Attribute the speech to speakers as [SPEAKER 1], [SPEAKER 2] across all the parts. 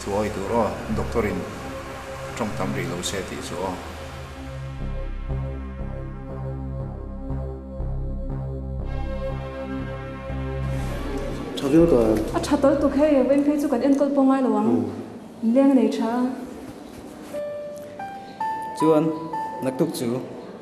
[SPEAKER 1] Chu awi tur aw, doctor in tawng tam rih lo se tih chu aw. Tha viau ta. A tha tal tuk hei, vawiin phei chu kan enkawl pawh ngai lo ang, in leng a nei tha a. Chuan naktuk chu.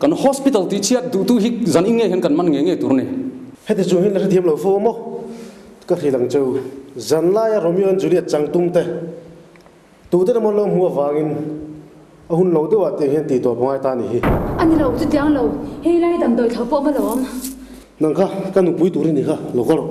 [SPEAKER 1] Kan hospital tih chhiat duhtu hi zan in nge hian kan man nge nge tur ni? Heti chu hin la hrethiam lo fo maw? Ka hril ang cheu. Zan laia Romeo and Juliet chang tum te tute lamah lo hmuh avangin a hun lo deuh ah tiang hian tih tur pawngai ta ni hi. A ni lo chutiang lo, hei lai damdawi thla pawh a lo awm. Nang kha ka nupui tur a ni kha, lo ka rawh.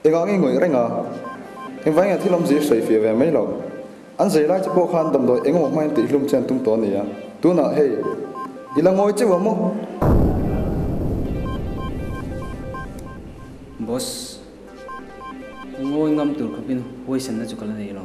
[SPEAKER 1] Engah nge ngawih reng a? Engvai nge thil awm zir sawi fir ve mai lo. An zei lai chu pawh khan damdawi engemaw hma in tihhlum che an tum tawh a ni a. Tunah hei, i la ngawi cheuh a maw? Boss, a ngawi ngam tur khawpin huaisenna chu ka la nei lo.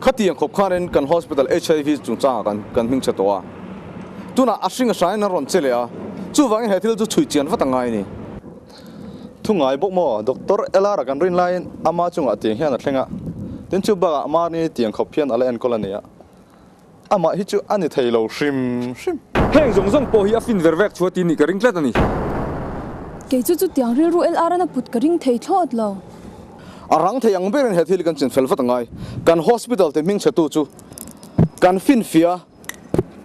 [SPEAKER 1] Khati ang khawp khan in kan hospital HIV chungchanga kan kan hming chhe tawh a, tunah a hringa hrain an rawn che leh a, chuvangin he thil chu chhui chian vat ang ngai ni. Thu ngai bawk maw? Doctor Elara kan rin laiin ama chungah tiang hian a thleng a, tin chu bakah Marnie tiang khawp hian a la enkawl a nia. Amah hi chu a ni thei lo hrim hrim. Heng zawng zawng pawh hi a fin ver vek thu a ti nih ka ring tlat a ni. Kei chu chutiang rilru el aran a put ka ring thei thlawt lo. A rang thei ang berin he thil kan chin fel vat angai. Kan hospital te hming chhetu chu kan fin fia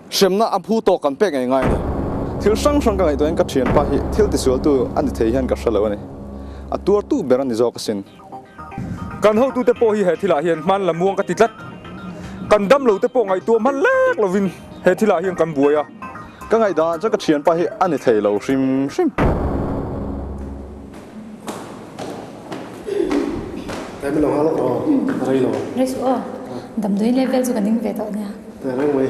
[SPEAKER 1] hremna a hmu tawk kan pek ngai ngai a ni. Thil hrang hrang ka ngaihtuahin ka thianpa hi thil tisualtu a ni thei hian ka hre lo a ni. A tuar tu ber a ni zawk asin. Kan hotute pawh hi he thilah hian hmanla muang ka ti tlat. Kan damlote pawh ngaihtuah hman lek lovin he thilah hian kan buai a. Ka ngaihdan chuan ka thianpa hi a ni thei lo hrim hrim. Tlai milo hang lawk aw, ka rei lo. Rei suh aw. Damdawiin level chu ka ning ve tawh ania. Reng mai.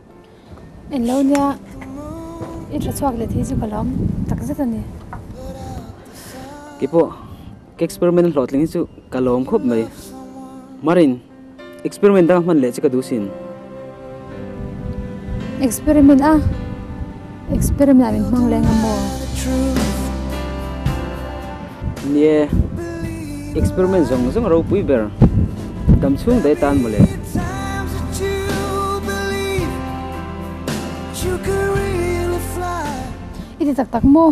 [SPEAKER 1] Eng lo nia i tha chhuak let hi chu ka lawm tak zet a ni. Kipawh ka experiment a hlawhtling hi chu ka lawm khawp mai. Marin, experiment dang a hman leh che ka duhsin. Experiment a? Experiment ah min hmang leng a maw? Ni e, experiment zawng zawng a ropui ber. Dam chhung dai tan maw le? I ti tak tak maw?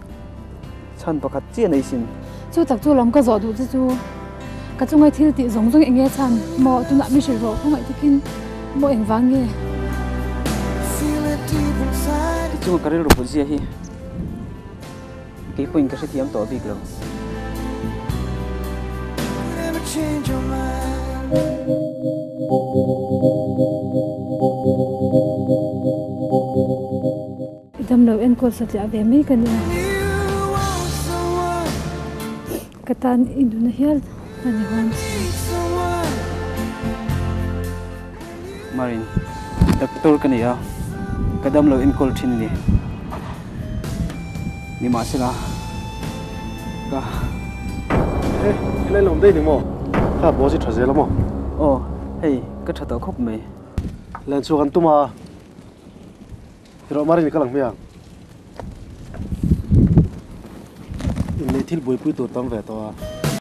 [SPEAKER 1] Chhan pakhat chiah nei sin. Chu tak chu lam ka zawh duh che chu. Ka chungai thil tih zawng zawng enge chhan? Maw tunah mihrilh rawh khawngaih takin maw engvang nge? Ti chunga ka rilru putzia hi keipawhin ka hrethiam tawh bik lo. I damlo enkawt satliah ve mai ka nia. Ka tan i nuna hial a ni hawn tih. Marin, Doctor ka ni a, ka damlo enkawl thin a ni. Nimahsela, ka. He, i lain lawm daih ni maw? Kha boss i tha zel a maw? Aw, hei, ka tha tawh khawp mai. Len chhuak an tum a. Erawh Mari leh ka lang hme ang. Inneih thil buaipui tur tam ve tawh a.